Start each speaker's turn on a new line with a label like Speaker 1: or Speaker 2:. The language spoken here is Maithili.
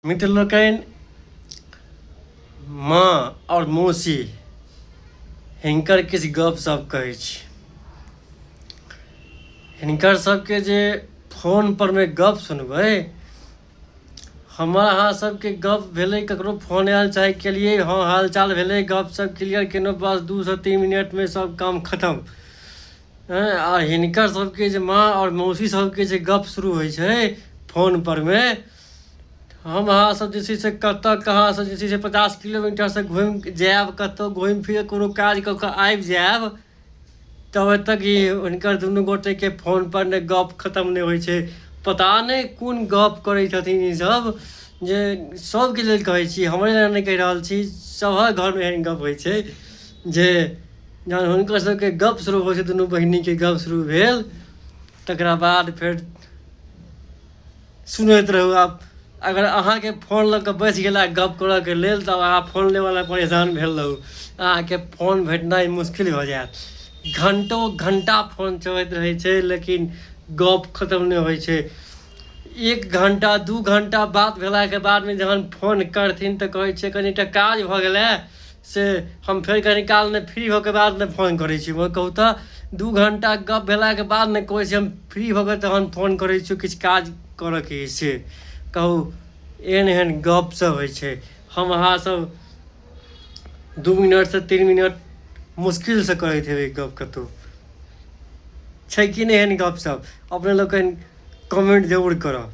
Speaker 1: मित्र लोकनि माँ आओर मौसी हिनकर किछु गपशप कहै छी हिनकर सबके जे फोन पर मे गप सुनबै हमर अहाँ सबके गप भेलै ककरो फोन आयल चाहे केलियै हँ हालचाल भेलै गप सब क्लियर केलहुँ बस दू से तीन मिनट मे सब काम खतम आ हिनकर सबके जे माँ आओर मौसी सबके जे गप शुरू होइ छै फोन पर मे हम अहाँ सब जे छै से कतऽ कहाँ से जे छै से पचास किलोमीटर से घुमि जायब कतौ घुमि फिर कोनो काज कऽ कऽ आबि जायब तब तक कि हुनकर दुनू गोटे के फोन पर ने गप खतम नहि होइ छै पता नहि कोन गप करै छथिन ई सब जे सबके लेल कहै छी हमरे लेल नहि कहि रहल छी सबहक घर मे एहन गप होइ छै जे जहन हुनकर सबके गप शुरू होइ छै दुनू बहिनी के गप शुरू भेल तकरा बाद फेर सुनैत रहू आब अगर अहाँके फोन लऽ कऽ बैस गेला गप करऽके लेल तऽ अहाँ फोन लेवला परेशान भेल रहू अहाँके फोन भेटनाइ मुश्किल भऽ जायत घंटो घंटा फोन चलैत रहै छै लेकिन गप खतम नहि होइ छै एक घंटा दू घंटा बात भेलाके बादमे जहन फोन करथिन तऽ कहै छै कनिटा काज भऽ गेलै से हम फेर कनी काल ने फ्री होके बाद ने फोन करै छी वो कहू तऽ दू घंटा गप भेलाके बाद ने कहै छी हम फ्री होके तहन फोन करै छी किछु काज करऽके अइ से कहू एहन एहन गप सब होइ छै हम अहाँ सब दू मिनटसँ तीन मिनट मुश्किलसँ करैत हेबै गप कतहु छै कि नहि एहन गप सब अपने लोकनि कमेंट जरूर करब